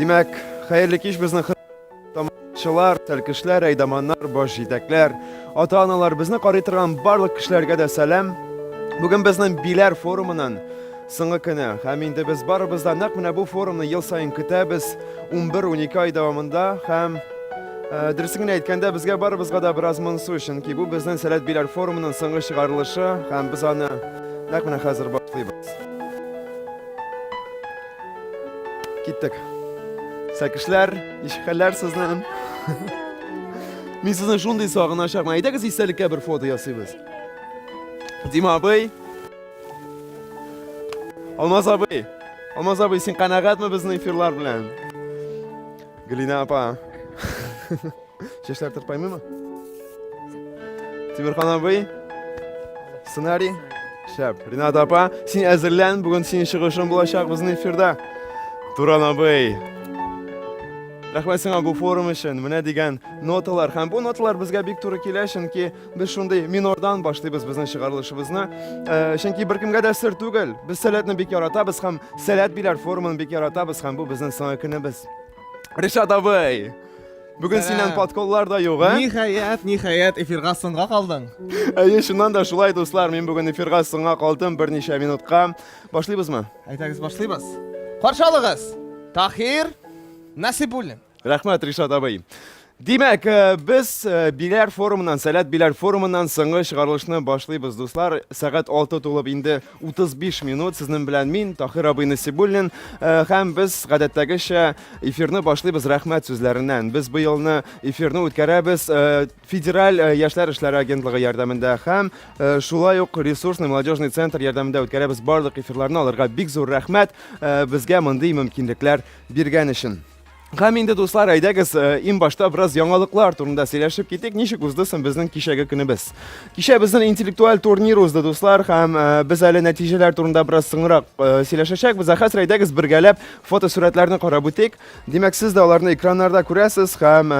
Димәк, хәерле кич безнең тамашачылар, тәлкешләр, әйдаманнар, баш җитәкләр, ата-аналар, безне карый торган барлык кешеләргә дә сәлам. Бүген безнең биләр форумының соңгы көне. Һәм инде без барыбыз да нәкъ менә бу форумны ел саен көтәбез. 11-12 ай дәвамында һәм Э, дөресен генә әйткәндә, безгә барыбызга да бераз монсу, чөнки бу безнең Сәләт Биләр форумының соңгы чыгарылышы һәм без аны нәкъ менә хәзер башлыйбыз. Киттек. Сәкешләр, ничек хәлләр сезнең? Мин сезне шундый сагыначакмын. Әйдәгез истәлеккә бер фото ясыйбыз. Дима абый. Алмаз абый. Алмаз абый, син канәгатьме безнең эфирлар белән? Глина апа. Чәчләр тырпаймыймы? Тимирхан абый. Сценарий. Шәп. Ринат апа, син әзерлән, бүген синең чыгышың булачак безнең эфирда. Туран абый. Рәхмәт сиңа бу форум өчен. Менә дигән ноталар. Һәм бу ноталар безгә бик туры килә, чөнки Без шундый минордан башлыйбыз безнең чыгарылышыбызны. Э, чөнки беркемгә дә сер түгел. Без сәләтне бик яратабыз һәм сәләт биләр форумын бик яратабыз һәм бу безнең соңгы көнебез. Ришат абый! Бүген синнән подколлар да юк, ә? Ниһаять, ниһаять, эфирга соңга калдың. Әйе, шуннан да шулай, дуслар, мин бүген эфирга соңга калдым берничә минутка. Башлыйбызмы? Әйтәгез, башлыйбыз. Каршалыгыз! Тахир Насибуллин. Рәхмәт, Ришат абый. Димәк, э, без э, Биләр форумыннан, Сәләт Биләр форумыннан соңгы чыгарылышны башлыйбыз, дуслар. Сәгать 6 тулып инде 35 минут. Сезнең белән мин, Тахир абый Насибуллин, э, һәм без гадәттәгечә эфирны башлыйбыз рәхмәт сүзләреннән. Без бу елны эфирны үткәрәбез федераль яшьләр эшләре агентлыгы ярдәмендә һәм шулай ук ресурсный молодежный центр ярдәмендә үткәрәбез барлык эфирларны. Аларга бик зур рәхмәт безгә мондый мөмкинлекләр биргән өчен. Һәм инде, дуслар, әйдәгез, э, иң башта бераз яңалыклар турында сөйләшеп китик. Ничек узды соң безнең кичәге көнебез? Кичә безнең интеллектуаль турнир узды, дуслар, һәм э, без әле нәтиҗәләр турында бераз соңрак э, сөйләшәчәкбез. Ә хәзер әйдәгез бергәләп фотосурәтләрне карап үтик. Димәк, сез дә аларны экраннарда күрәсез һәм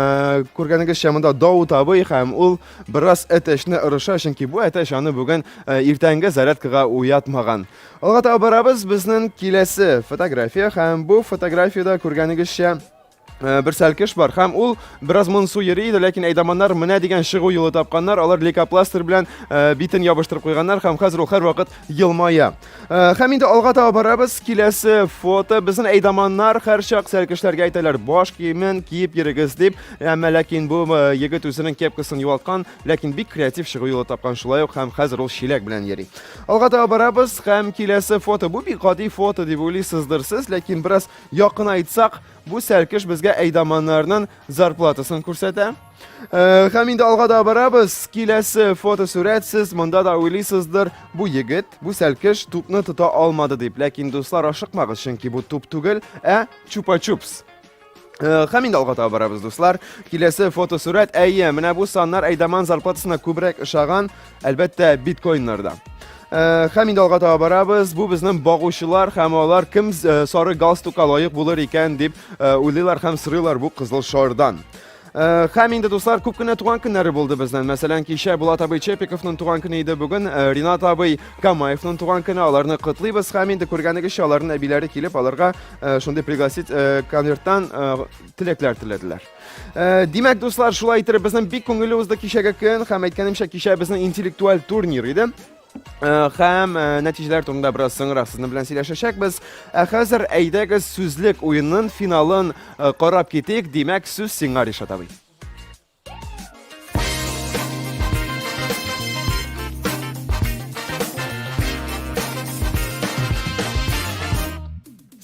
күргәнегезчә монда Даут абый һәм ул бераз әтәчне ырыша, чөнки бу әтәч аны бүген иртәнге зарядкага уятмаган. Алга таба барабыз, безнең киләсе фотография һәм бу фотографиядә күргәнегезчә Э, бер сәлкеш бар һәм ул бераз монсу йөри иде ләкин әйдаманнар менә дигән чыгу юлы тапканнар алар лейкопластырь белән э, битен ябыштырып куйганнар һәм хәзер ул һәрвакыт елмая э, һәм инде алга таба барабыз киләсе фото безнең әйдаманнар һәрчак сәлкешләргә әйтәләр баш киемен киеп йөрегез дип әмма ләкин бу егет үзенең кепкасын югалткан Ләкин бик креатив чыгу юлы тапкан шулай ук һәм хәзер ул чиләк белән йөри. Алга таба барабыз һәм киләсе фото. Бу бик гади фото дип уйлыйсыздыр сез, ләкин бераз якынайтсак, бу сәркеш безгә әйдаманнарның зарплатасын күрсәтә. Э, һәм инде алга да барабыз. Киләсе фотосурәт сез монда да уйлыйсыздыр, бу егет, бу сәркеш тупны тота алмады дип. Ләкин дуслар ашыкмагыз, чөнки бу туп түгел, ә чупа-чупс. Э, һәм инде алга таба барабыз, дуслар. Киләсе фотосурәт, әйе, менә бу саннар әйдаман зарплатасына күбрәк ошаган, әлбәттә, биткоиннарда. Э, һәм инде алга таба барабыз. Бу безнең багучылар һәм алар кем э, сары галстукка лаек булыр икән дип уйлыйлар һәм сырыйлар бу кызыл шардан. Э, һәм инде дуслар күп кенә туган көннәре булды безнең мәсәлән кичә булат абый чепиковның туган көне иде бүген э, ринат абый камаевның туган көне аларны котлыйбыз һәм инде күргәнегезчә аларның әбиләре килеп аларга э, шундый пригласить конверттан теләкләр теләделәр димәк дуслар шулай итеп безнең бик күңелле узды кичәге көн һәм әйткәнемчә кичә безнең интеллектуаль турнир иде Э, һәм э, нәтиҗәләр турында бераз соңрак сезнең белән сөйләшәчәкбез. Ә хәзер әйдәгез сүзлек уенын финалын э, карап китик. Димәк, сүз сиңа Ришат абый.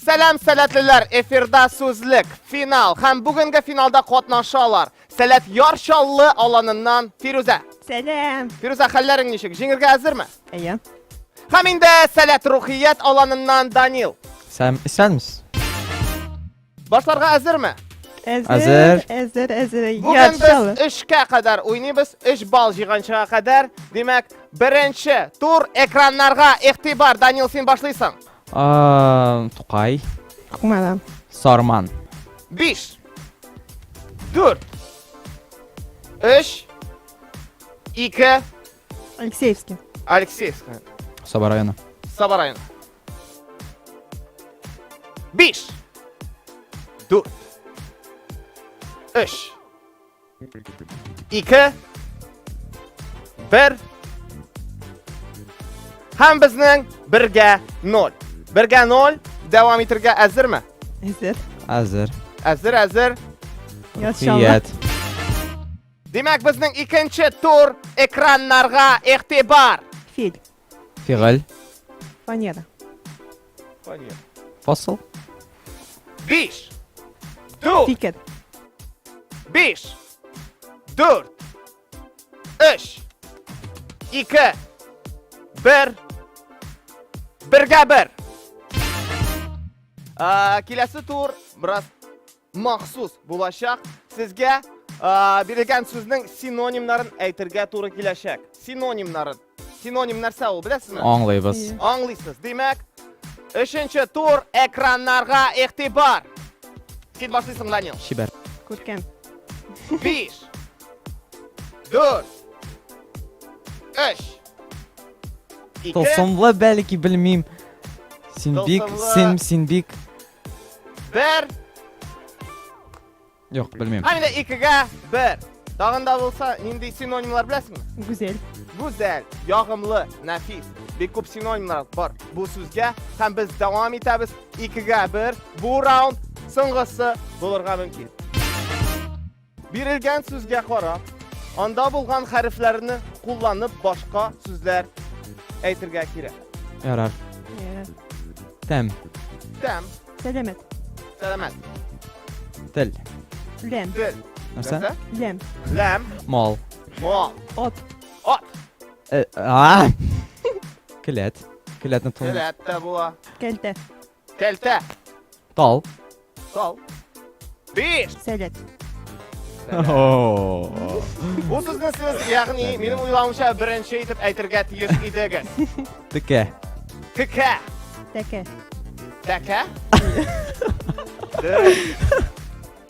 Сәлам сәләтлеләр, эфирда сүзлек, финал һәм бүгенге финалда катнаша алар. Сәләф Яр Чаллы аланыннан Фирүзә. Сәлам. Фирүзә, хәлләрең ничек? Җиңергә әзерме? Әйе. Һәм инде Сәләт Рухият аланыннан Данил. Сәм, исәнмесез. Башларга әзерме? Әзер, әзер, әзер. Бүген без эшкә кадәр уйныбыз, 3 балл җиганчыга кадәр. Димәк, беренче тур экраннарга игътибар. Данил, син башлыйсың. Ам, Тукай. Кумада. Сарман. Биш. Дүрт. Өч. Ике. Алексеевский. Алексеевская. Саба районы. Саба районы. Биш. Дүрт. Өч. Ике. Бер. Һәм безнең бергә ноль. Бергә ноль. Дәвам итергә әзерме? Әзер. Әзер. Әзер, әзер. Ят. Димәк, безнең икенче тур экраннарга игътибар. Фил. Фигыль. Фанера. Фанера. Фасыл. Биш. Дүрт. Фикер. Биш. Дүрт. Өч. Ике. Бер. Бергә бер. Киләсе тур, брат. Махсус булачак сезгә бирелгән сүзнең синонимнарын әйтергә туры киләчәк. Синонимнарын. Синоним нәрсә ул, беләсезме? Аңлыйбыз. Аңлыйсыз. Димәк, өченче тур экраннарга игътибар. Син башлыйсың, Данил. Чибәр. Күркәм. Биш. Дүрт. Өч. Ике. Тылсымлы бәлки, белмим. Син бик, син, син бик Бер. Юк, белмим. Һәм дә икегә бер. Тагын да булса, нинди синонимлар беләсеңме? Гүзәл. Гүзәл, ягымлы, нәфис. Бик күп синонимлар бар бу сүзгә. Һәм без дәвам итәбез. Икегә бер. Бу раунд соңгысы булырга мөмкин. Бирелгән сүзгә карап, анда булган хәрефләрне кулланып башка сүзләр әйтергә кирәк. Ярар. Тәм. Тәм. Сәләмәт. Сәләмәт. Тел. Ләм. Тел. Нәрсә? Ләм. Ләм. Мал. Мал. Ат. Ат. Э, а! Келәт. Келәтне тон. Келәт тә була. Кәлтә. Кәлтә. Тал. Тал. Биш. Сәләт. Бу сүзне сез, ягъни, минем уйлавымча, беренче итеп әйтергә тиеш идегез. Текә. Текә. Тәкә. Тәкә?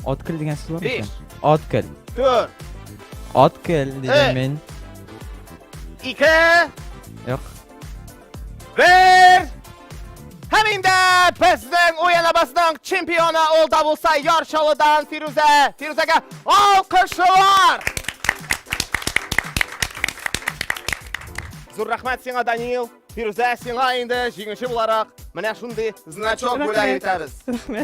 Откел дигән сүз бар микән? Откел. Төр. Откел дигән мин. Ике. Юк. Бер! Һәм инде безнең уен абасының чемпионы ул да булса Ярчалыдан Фирүзә. Фирүзәгә алкышлар! Зур рәхмәт сиңа, Данил. Фирүзә, сиңа инде җиңүче буларак менә шундый значок бүләк итәбез.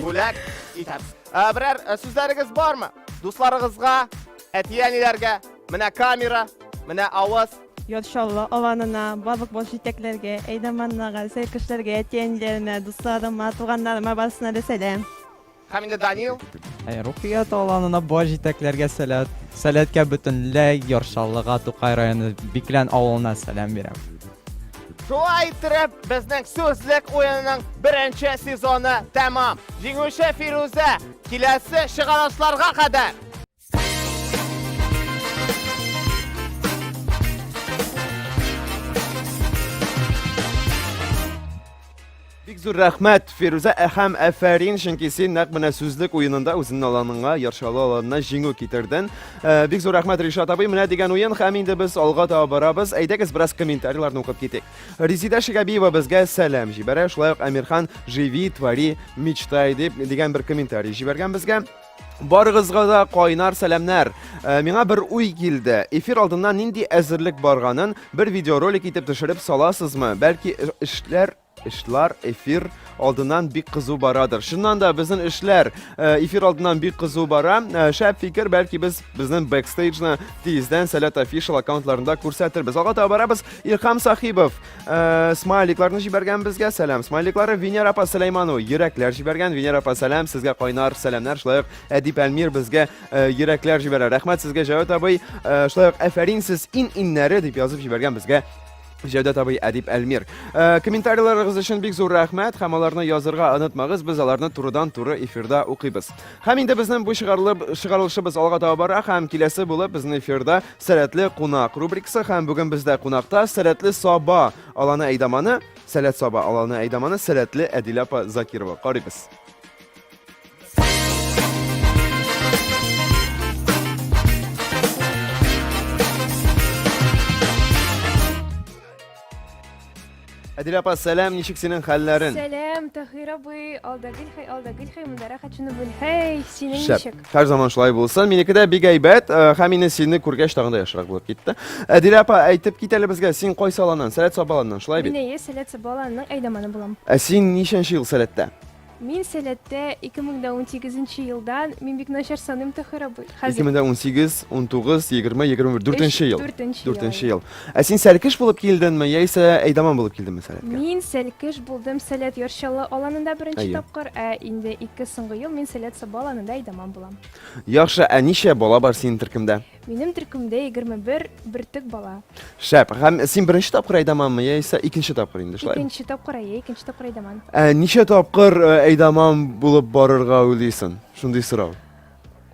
Бүләк итәбез. Ә, Берәр ә, сүзләрегез бармы? Дусларыгызга, әти-әниләргә, менә камера, менә авыз, Яр Чаллы аланына, барлык баш җитәкләргә, әйдаманнарга, сәркешләргә, әти-әниләремә, дусларыма, туганнарыма барысына да сәлам. Һәм инде Данил. Ә Рухият аланына баш җитәкләргә сәләт, сәләткә бөтенләй Яр Чаллыга, Тукай районы Биклән авылына сәлам бирәм. Шулай иттереп, безнең сүзлек уенының беренче сезоны тәмам. Җиңүче Фирүзә, киләсе чыгарылышларга кадәр! Бик зур рәхмәт, Фирүзә әхәм әфәрин, чөнки син нәкъ менә сүзлек уенында үзеңнең аланыңа, яршалы аланына җиңү китердең. Э, бик зур рәхмәт Ришат абый, менә дигән уен һәм инде без алга таба барабыз. Әйдәгез бераз комментарийларны укып китик. Резидә Шигәбиева безгә сәлам җибәрә, шулай ук Әмирхан живи, твори, мечтай дип дигән бер комментарий җибәргән безгә. Барыгызга да кайнар сәламнәр. Э, миңа бер уй килде. Эфир алдыннан нинди әзерлек барганын бер видеоролик итеп төшереп саласызмы? Бәлки э, эшләр эшләр эфир алдыннан бик кызу барадыр. Шуннан да безнең эшләр э, эфир алдыннан бик кызу бара. Э, шәп фикер, бәлки без безнең бэкстейджны тиздән Сәләт офишал аккаунтларында күрсәтербез. Алга таба барабыз. Ирхам Сахибов Э, смайликларны җибәргән безгә сәлам смайликлары венера апа сәләйману йөрәкләр җибәргән венера апа сәлам сезгә кайнар сәламнәр шулай ук әдип әлмир безгә э, йөрәкләр җибәрә рәхмәт сезгә җәвәт абый э, шулай ук әфәрин сез ин иннәре дип язып җибәргән безгә Җәүдәт абый Әдип Әлмир. Э, комментарийларыгыз өчен бик зур рәхмәт һәм аларны язырга онытмагыз, без аларны турыдан туры эфирда укыйбыз. Һәм инде безнең бу чыгарылып чыгарылышыбыз алга таба бара һәм киләсе булып безнең эфирда Сәләтле кунак рубрикасы һәм бүген бездә кунакта Сәләтле Саба аланы әйдаманы, Сәләт Саба аланы әйдаманы Сәләтле Әдилә апа Закирова. Карыйбыз. Әдил апа, сәлам, ничек синең хәлләрен? Сәлам, Тахир абый, алда гел хәй, алда гел хәй, монда рәхәт шуны бел. Хәй, синең ничек? Һәр заман шулай булсын. Минеке дә бик әйбәт, э, һәм инде сине күргәч тагын да яхшырак булып китте. Әдил апа, әйтеп кит әле безгә, син кайсы аланнан? Сәләт Сабаланнан, шулай бит? Мин әйе, Сәләт Сабаланның әйдәманы булам. Ә син ничәнче ел Сәләттә? Мин сәләттә 2018 елдан, мин бик начар саныйм Тохир абый. Хәзер 2018, 19, 20, 21, дүртенче ел. Дүртенче ел. Дүртенче ел. Ә син сәлкеш булып килдеңме, яисә әйдаман булып килдеңме сәләткә? Мин сәлкеш булдым Сәләт Ярчалы аланында беренче Әйе. тапкыр, ә инде ике соңгы ел мин Сәләт Саба аланында әйдаман булам. Яхшы, ә ничә бала бар синең төркемдә? Минем төркемдә егерме бер бөртек бала. Шәп. Һәм син беренче тапкыр Айдаманмы, яисә икенче тапкыр инде, шулай? Икенче тапкыр әйе, икенче тапкыр Айдаман. Ә ничә тапкыр э, Айдаман булып барырга уйлыйсың? Шундый сорау.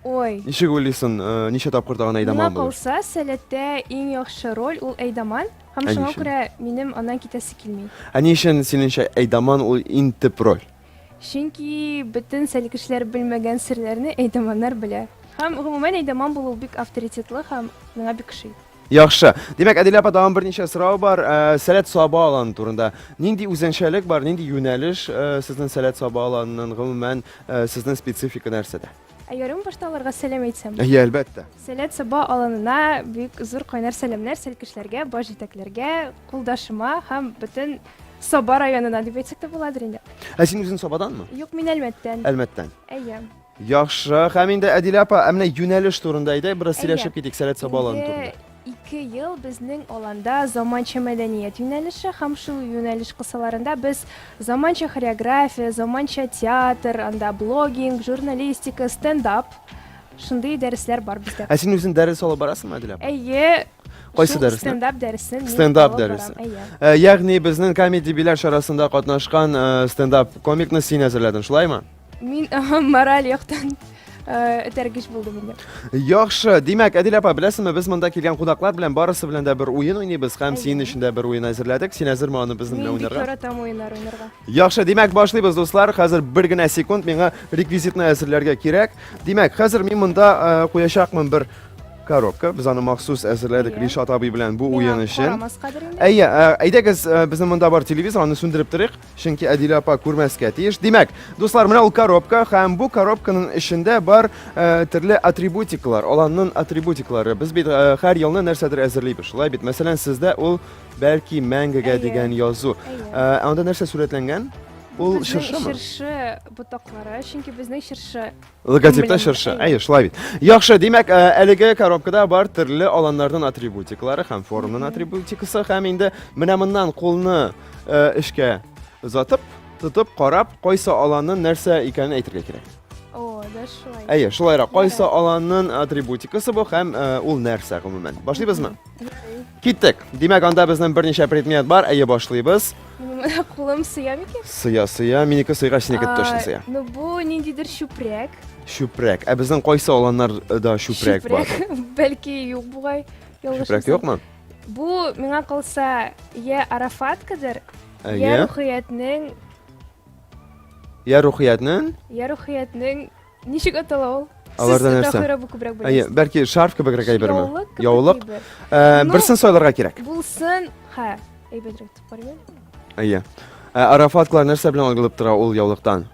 Ой. Ничек уйлыйсың, э, ничә тапкыр тагын Миңа Айдаман булыр? калса, сәләттә иң яхшы роль ул Айдаман. Һәм Ә шуңа ничек? күрә минем аннан китәсе килми. Ә ни өчен синеңчә Айдаман ул иң төп роль? Чөнки бөтен сәлкешләр белмәгән серләрне әйдаманнар белә. Һәм гомумән әйдаман булу бик авторитетлы һәм миңа бик ошый. Яхшы. Димәк, Әдилә апа тагын берничә сорау бар. Ә, Сәләт саба аланы турында. Нинди үзенчәлек бар, нинди юнәлеш ә, сезнең сәләт саба аланының гомумән ә, сезнең специфика нәрсәдә? Ә ярым башта аларга сәлам әйтсәм? Әйе, әлбәттә. Сәләт Саба аланына бик зур кайнар сәламнәр сәлкешләргә, баш җитәкләргә, кулдашыма һәм бөтен Саба районына дип әйтсәк тә буладыр инде. Ә син үзең Сабаданмы? Юк, мин Әлмәттән. Әлмәттән. Әйе. Яхшы. Һәм инде Әдилә апа, ә менә юнәлеш турында әйдәк, бераз сөйләшеп китик Сәләт Саба аланы турында. Ике ел безнең аланда заманча мәдәният юнәлеше һәм шул юнәлеш кысаларында без заманча хореография, заманча театр, анда блогинг, журналистика, стендап, шундый дәресләр бар бездә. Ә син үзең дәрес алып барасыңмы, Әдилә? Әйе, Кайсы дәресне? Стендап дәресен. Стендап дәресе. Ә, ягъни безнең комеди биләр чарасында катнашкан э, стендап комикны син әзерләдең, шулаймы? Мин мораль яктан этәргеч булдым инде. Яхшы, димәк, Әдил апа, беләсеңме, без монда килгән кунаклар белән барысы белән дә бер уен уйныйбыз һәм синең өчен дә бер уен әзерләдек. Син әзерме аны безнең белән уйнарга? Мин яратам уеннар уйнарга. Яхшы, димәк, башлыйбыз, дуслар. Хәзер бер генә секунд миңа реквизитны әзерләргә кирәк. Димәк, хәзер мин монда куячакмын бер коробка. Без аны махсус әзерләдек Ришат абый белән бу уен өчен. Әйе, әйдәгез, безнең монда бар телевизор, аны сүндереп торыйк. Чөнки Әдилә апа күрмәскә тиеш. Димәк, дуслар, менә ул коробка һәм бу коробканың эчендә бар э, төрле атрибутикалар, аланның атрибутиклары. Без бит э, һәр елны нәрсәдер әзерлибез. Шулай бит. Мәсәлән, сездә ул бәлки мәңгегә Әйе. дигән язу. Әйе. Э, ә анда нәрсә сурәтләнгән? Ул Безнең чыршымы? Чыршы ботаклары, чөнки безнең чыршы Логотипта чыршы. Әйе, шулай бит. Яхшы, димәк, э, әлеге коробкада бар төрле аланнарның атрибутиклары һәм форумның атрибутикасы һәм инде менә моннан кулны э, эшкә озатып, тотып, карап, кайсы аланның нәрсә икәнен әйтергә кирәк. О, да шулай. Әйе, шулайрак. Кайсы аланның атрибутикасы бу һәм э, ул нәрсә гомумән? Башлыйбызмы? Киттек. Димәк, анда безнең берничә предмет бар. Әйе, башлыйбыз. Кулым сыя микән? Сыя, сыя. Минеке сыйгач, синеке точно сыя. Ну, бу ниндидер чүпрәк. Чүпрәк. Ә безнең кайсы аланнарда чүпрәк бар? Чүпрәк. Бәлки юк бугай. Чүпрәк юкмы? Бу миңа калса, я Арафаткадыр, я Рухиятнең. Я Рухиятнең? Я Рухиятнең Ничек атала ул? Аларда Сез нәрсә? Тәхирә бу күбрәк Әйе, беләсез. бәлки шарф кебегрәк әйберме? Яулык кебек Яулык. әйбер. Ә, Ну- Берсен сайларга кирәк. Булсын, ха, әйбәтрәк дип карыйм. Әйе. Ә, Арафаткалар нәрсә белән алгылып тора ул яулыктан?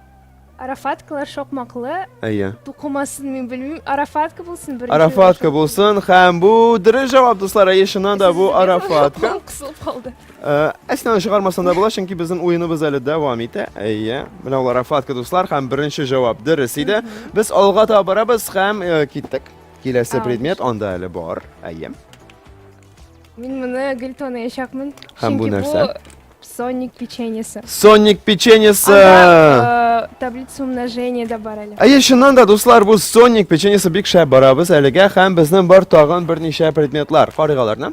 Арафаткалар шакмаклы, Әйе. тукымасын мин белмим. Арафатка булсын беренче. Арафатка булсын һәм бу дөрес җавап, дуслар. Әйе, чыннан да бу Арафатка. Кысылып калды. Әснаны чыгармасам да була, чөнки безнең уеныбыз әле дәвам итә. Әйе, менә алар Афатка дуслар һәм беренче җавап дөрес иде. Без алга таба барабыз һәм э, киттек. Киләсе Ау. предмет анда әле бар. Әйе. Мин моны гел таныячакмын. Һәм бу Чөнки нәрсә? бу Соник печеньесы. Соник печеньесы. Анда э, таблица умножения да бар әле. Әйе, чыннан да, дуслар, бу Соник печеньесы бик шәп барабыз әлегә һәм безнең бар тагын берничә предметлар. Карыйк аларны.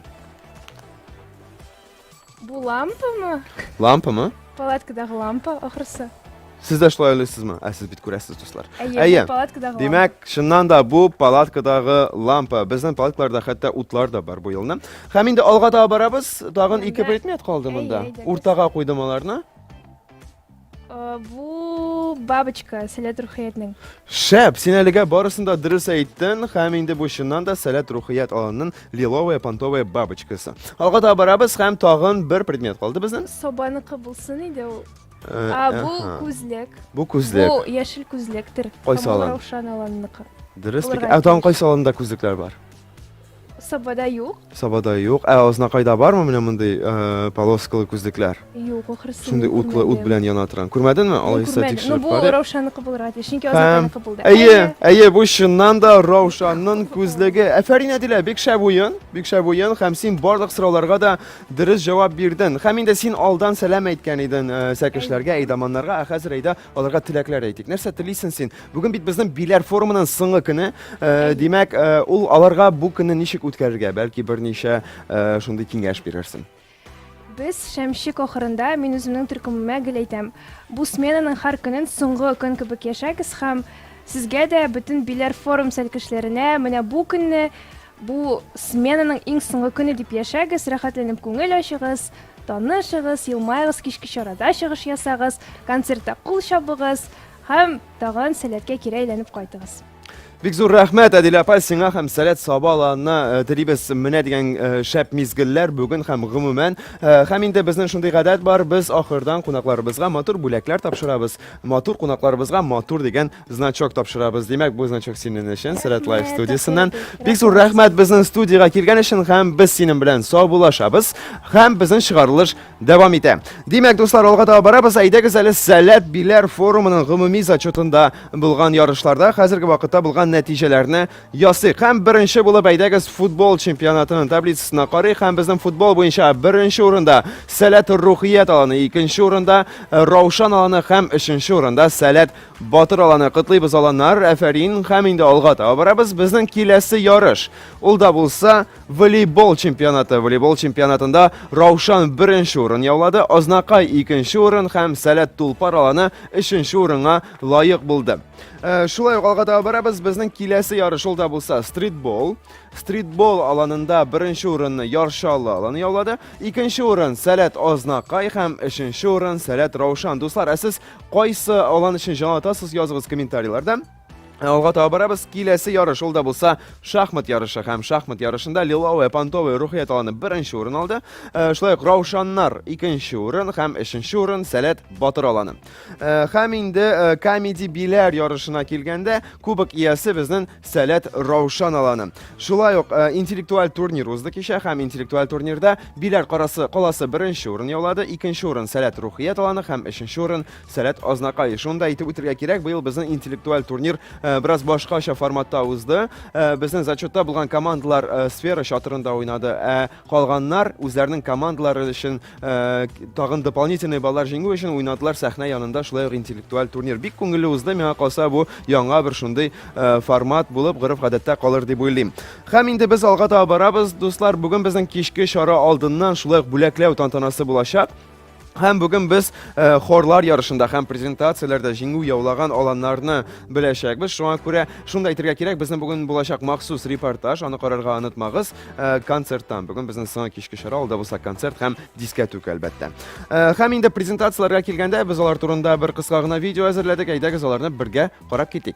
Бу лампамы? Лампамы? Палаткадагы лампа ахрысы. Сез дә шулай уйлыйсызмы? Ә сез бит күрәсез, дуслар. Әйе, палаткадагы. Димәк, чыннан да бу палаткадагы лампа. Безнең палаткаларда хәтта утлар да бар бу елны. Һәм инде алга таба барабыз. Тагын ике предмет калды монда. Уртага куйдым аларны. Э, бу бабочка сәләт рухиятнең. Шәп, син әлегә барысын да дөрес әйттең, һәм инде бу чыннан да сәләт рухият аланның лиловая понтовая бабочкасы. Алга да барабыз һәм тагын бер предмет калды безнең. Собаныкы булсын иде ул. Э, а бу күзлек. Бу күзлек. Бу яшел күзлектер. Кайсы алан? Раушан аланныкы. Дөрес. Ә тагын кайсы аланда күзлекләр бар? Сабада юк. Сабада юк. Ә Азнакайда бармы менә мондый э, полоскалы күзлекләр? Юк, ахрысы. Шундый утлы ут белән яна торган. Күрмәдеңме? Алайса тикшереп бу карыйк. Раушанныкы булырга тиеш, чөнки Азнакайныкы булды. Әйе, әйе, бу чыннан да Раушанның күзлеге. Әфәрин Әдилә, бик шәп уен, бик шәп уен һәм син барлык сорауларга да дөрес җавап бирдең. Һәм инде син алдан сәлам әйткән идең э, сәкешләргә, әйдаманнарга, ә хәзер әйдә Аларга теләкләр әйтик. Нәрсә телисен син? Бүген бит безнең биләр форумының соңгы көне. Э, димәк, э, ул аларга бу көнне ничек үткәрергә? Бәлки берничә э, шундый киңәш бирерсең. Без шәмшик ахырында мин үземнең төркемемә гел әйтәм. Бу сменаның һәр көнен соңгы көн кебек яшәгез һәм сезгә дә бөтен биләр форум сәлкешләренә менә бу көнне Бу сменаның иң соңгы көне дип яшәгез, рәхәтләнеп күңел ачыгыз, танышыгыз, елмаегыз, кичке чарада чыгыш ясагыз, концертта кул чабыгыз һәм тагын сәләткә кире әйләнеп кайтыгыз. Бик зур рәхмәт, Әдилә апа, сиңа һәм Сәләт Саба аланына э, телибез менә дигән э, шәп мизгелләр бүген һәм гомумән. Э, һәм инде безнең шундый гадәт бар, без ахырдан кунакларыбызга матур бүләкләр тапшырабыз. Матур кунакларыбызга матур дигән значок тапшырабыз. Димәк, бу значок синең өчен Сәләт Лайф студиясеннән. Бик зур рәхмәт безнең студиягә килгән өчен һәм без синең белән саубуллашабыз һәм безнең чыгарылыш дәвам итә. Димәк, дуслар, алга таба барабыз. Әйдәгез әле Сәләт биләр форумының гомуми зачетында булган ярышларда хәзерге вакытта булган нәтиҗәләрне ясыйк. Һәм беренче булып әйдәгез футбол чемпионатының таблицасына карыйк һәм безнең футбол буенча беренче урында Сәләт Рухият аланы, икенче урында Раушан аланы һәм өченче урында Сәләт Батыр аланы котлыйбыз аланнар, әфәрин, һәм инде алга таба барабыз. Безнең киләсе ярыш. Ул да булса волейбол чемпионаты. Волейбол чемпионатында Раушан беренче урын яулады, Азнакай икенче урын һәм Сәләт Тулпар аланы өченче урынга лаек булды. Э, шулай ук алга таба барабыз. Безнең киләсе ярыш ул да булса стритбол. Стритбол аланында беренче урынны Яршалы аланы яулады. Икенче урын Сәләт Азнакай һәм өченче урын Сәләт Раушан. Дуслар, ә сез Кайсы алан өчен җанатасыз языгыз комментарийларда. Ә алга таба барабыз. Киләсе ярыш ул да булса шахмат ярышы һәм шахмат ярышында Лиловая Пантовая Рухият аланы беренче урын алды. Э, шулай ук Раушаннар икенче урын һәм өченче урын Сәләт Батыр аланы. Э, һәм инде э, комеди биләр ярышына килгәндә кубок иясе безнең Сәләт Раушан аланы. Шулай ук э, интеллектуаль турнир узды кичә һәм интеллектуаль турнирда Биләр карасы каласы беренче урын яулады, икенче урын Сәләт Рухият аланы һәм өченче урын Сәләт Азнакай. Шуны да әйтеп үтергә кирәк, быел безнең интеллектуаль турнир э, бераз башкача форматта узды. Э, безнең зачетта булган командалар э, сфера чатырында уйнады. Ә Калганнар үзләренең командалары өчен тагын дополнительный баллар җиңү өчен уйнадылар сәхнә янында шулай ук интеллектуаль турнир. Бик күңелле узды, миңа калса бу яңа бер шундый формат булып гореф-гадәттә калыр дип уйлыйм. Һәм инде без алга таба барабыз, дуслар, бүген безнең кичке чара алдыннан шулай ук бүләкләү тантанасы булачак. Һәм бүген без э, хорлар ярышында һәм презентацияләрдә җиңү яулаган аланнарны беләчәкбез. Шуңа күрә шунда әйтергә кирәк, безнең бүген булачак махсус репортаж, аны карарга онытмагыз, э, концерттан. Бүген безнең соңгы кичке чара, ул да булса концерт һәм дискәтүк әлбәттә. Э, һәм инде презентацияләргә килгәндә без алар турында бер кыска гына видео әзерләдек. Әйдәгез аларны бергә карап китик.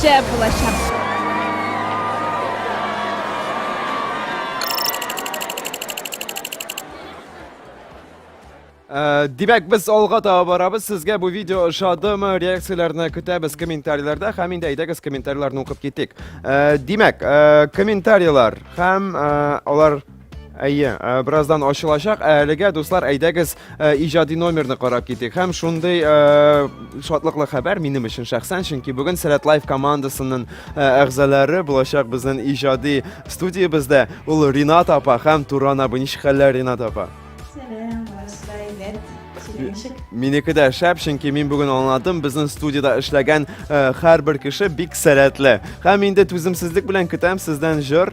Шәп булачак! Э, димәк, без алга таба барабыз. Сезгә бу видео ошадымы? Реакцияләрне көтәбез комментарийларда һәм инде әйдәгез комментарийларны укып китик. Э, димәк, э, комментарийлар һәм алар Әйе, э, бераздан ачылачак. Ә әлегә, дуслар, әйдәгез э, иҗади номерны карап китик. Һәм шундый э, шатлыклы хәбәр минем өчен шәхсән, чөнки бүген Сәләт Лайф командасының әгъзалары булачак безнең иҗади студиябездә. Ул Ринат апа һәм Туран абый. Ничек хәлләр, Ринат апа? Сәлам, барысыда әйбәт. Минеке дә шәп, чөнки мин бүген аңладым, безнең студияда эшләгән һәрбер кеше бик сәләтле. Һәм инде түземсезлек белән көтәм сездән җыр.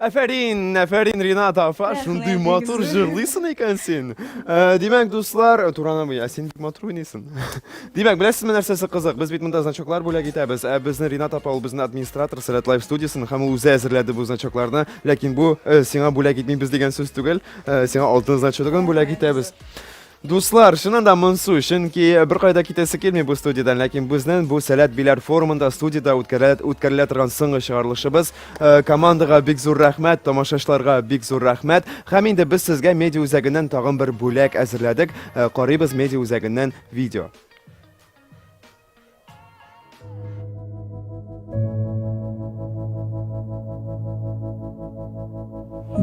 Әфәрин, әфәрин, Ринат апа, шундый матур җырлыйсың икән син. Э, димәк, дуслар, э, Турана буй, ә син бик матур уйныйсың. Димәк, беләсезме нәрсәсе кызык? Без бит монда значоклар бүләк итәбез. Ә безне Ринат апа ул безнең администратор Сәләт Лайф студиясен һәм ул үзе әзерләде бу значокларны. Ләкин бу э, сиңа бүләк итмибез дигән сүз түгел. Сиңа алтын значогын бүләк итәбез. Дуслар, чыннан да монсу, чөнки беркайда китәсе килми бу студиядән, ләкин безнең бу Сәләт Биләр форумында студиядә үткәрелә, үткәрелә торган соңгы чыгарылышыбыз. Э, командага бик зур рәхмәт, тамашачыларга бик зур рәхмәт. Һәм инде без сезгә медиа үзәгеннән тагын бер бүләк әзерләдек. Э, карыйбыз медиа үзәгеннән видео.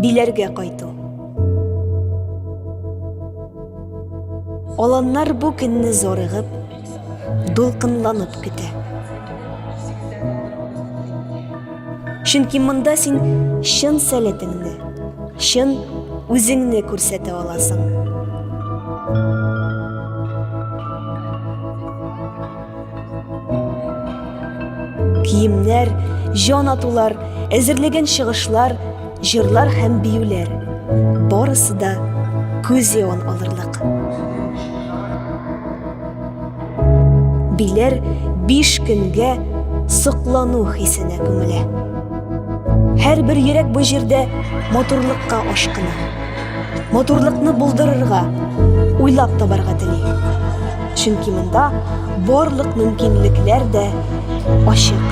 Биләргә кайту. Аланнар бу көнне зорыгып, дулкынланып көтә. Чөнки монда син чын сәләтеңне, чын үзеңне күрсәтә аласың. Киемнәр, җан атулар, әзерлеген чыгышлар, җырлар һәм биюләр. Барысы да күз явын алырлык. Биләр биш көнгә соклану хисенә күмелә. Һәр бер йөрәк бу җирдә матурлыкка ашкына. Матурлыкны булдырырга, уйлап табарга тели. Чөнки монда барлык мөмкинлекләр дә ачык.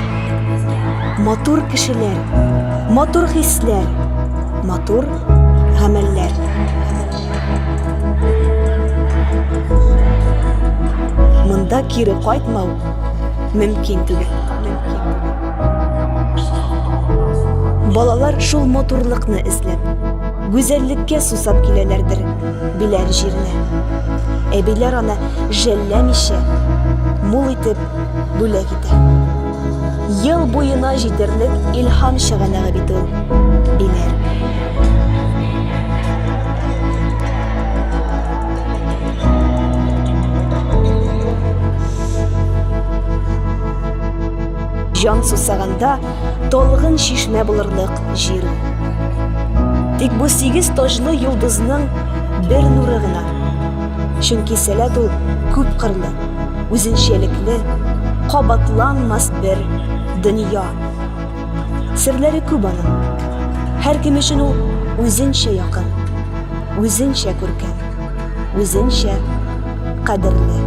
Матур кешеләр, матур хисләр, матур гамәлләр. Монда кире кайтмау мөмкин түгел. Балалар шул матурлыкны эзләп, гүзәллеккә сусап киләләрдер биләр җиренә. Әбиләр аны жәлләмичә, мул итеп бүләк итә. Ел буена җитәрлек илһам чыганагы бит ул, диләр. Җан сусаганда талгын чишмә булырлык җир ул. Тик бу сигез таҗлы йолдызның бер нуры гына. Чөнки сәләт ул күп кырлы. үзенчәлекле, кабатланмас бер дөнья. Серләре күп аның. Һәркем өчен ул үзенчә якын, үзенчә күркәм, үзенчә кадерле.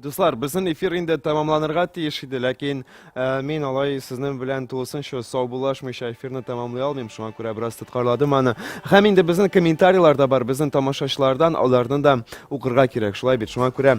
Дуслар, безнең эфир инде тәмамланырга тиеш иде, ләкин ә, мин алай сезнең белән тулысынча саубуллашмыйча эфирны тәмамлый алмыйм, шуңа күрә бераз тоткарладым аны. Һәм инде безнең комментарийлар да бар, безнең тамашачылардан аларны да укырга кирәк, шулай бит, шуңа күрә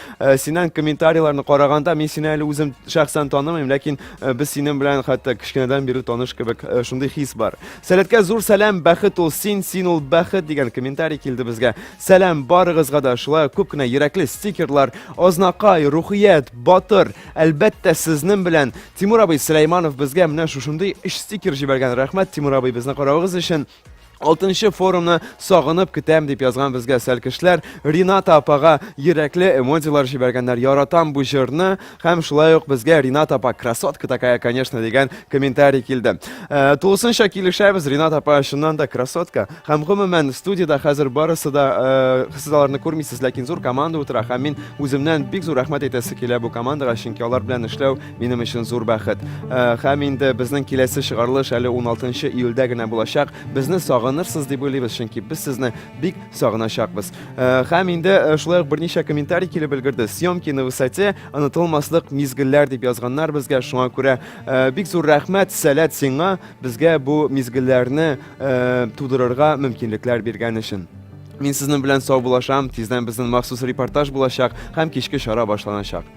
Э, синең комментарийларны караганда мин сине әле үзем шәхсән танымыйм ләкин э, без синең белән хәтта кечкенәдән бирле таныш кебек э, шундый хис бар сәләткә зур сәлам бәхет ул син син ул бәхет дигән комментарий килде безгә сәлам барыгызга да шулай күп кенә йөрәкле стикерлар ознакай рухият батыр әлбәттә сезнең белән тимур абый сөләйманов безгә менә шушындый өч стикер җибәргән рәхмәт тимур абый безне каравыгыз өчен Алтынчы форумны сагынып көтәм дип язган безгә сәлкешләр, Рината апага йөрәкле эмодилар җибәргәннәр. Яратам бу җырны һәм шулай ук безгә Ринат апа красотка такая, конечно дигән комментарий килде. Э, тулысынча килешәбез, Ринат апа чыннан да красотка. Һәм гомумән студиядә хәзер барысы да э, сез аларны күрмисез, ләкин зур команда утыра һәм мин үземнән бик зур рәхмәт әйтәсе килә бу командага, чөнки алар белән эшләү Минем өчен зур бәхет. Э, һәм инде безнең киләсе чыгарылыш әле 16 июльдә генә булачак. Безне сагынырсыз дип уйлыйбыз, чөнки без сезне бик сагыначакбыз. Э, һәм инде э, шулай ук берничә комментарий килеп өлгерде. Съемки на высоте, онытылмаслык мизгелләр дип язганнар безгә. Шуңа күрә бик зур рәхмәт, сәләт сиңа безгә бу мизгелләрне тудырырга мөмкинлекләр биргән өчен. Мин сезнең белән сау булашам, тиздән безнең махсус репортаж булачак һәм кичке чара башланачак.